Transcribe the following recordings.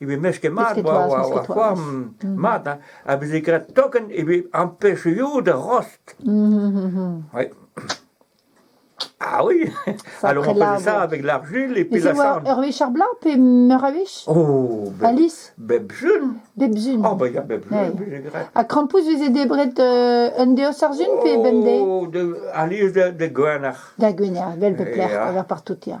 e vez mesket mat war c'hoar mat hein. a veze graet token e vez empêchioù da rost. Ah oui Alors on faisait ça avec l'argile et puis la sarde. Ur wech ar blanc pe meur a wech Oh Alice Bebjun Bebjun Oh bah il y a Bebjun A Krampouz veze debret euh, un deus ar zun pe bemde Oh de Alice de, de Gwener Da Gwener, bel pep lec'h, par partout ya.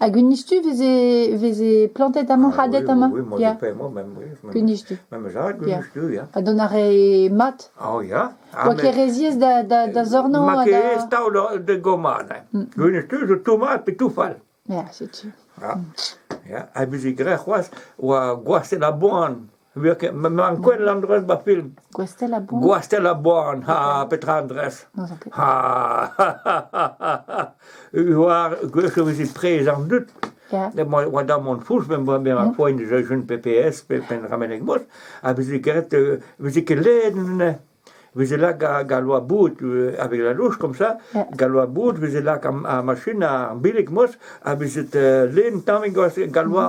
Hag Gwinistu 'veze 'veze plantet amañ hadet amañ ya Gwinistu ya ha dont a rae mat oa ket re ziaes da da da zornañ ha da... Gwinistu zo tomm mat pe touf all ya setu. Ha 'veze graet c'hoazh oa gwasenn a boan. Ma'n quel l'endrez ba film. Gwastell a boan? Gwastell a boan, ha petra endrez? N'ouzon ket. Ha War, gwech e vezi trez an dud. Ya. Oa oa da mont fouch, me oa mer a poagn deus un PPS, pe pen ramenek mos, ha vezi keret, euh, vezi ket led ne. Vezi lak ga, ga loa bout euh, avec la louche comme ça, Ja. ga loa bout, vezi lak ar, ar machine ar bilik mos, ha vezi tet len tamek ga, ga loa.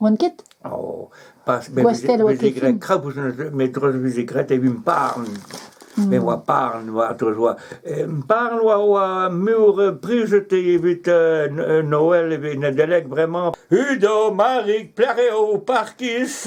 Oan ket Oh, pas Gwastell oa ket graet krapouz met dreuz veze graet evit parn. Me oa parn oa dreuz oa. Parn oa oa meur prijet evit Noël evit Nedeleg, vraiment. Udo, Marig, plac'h eo parkis.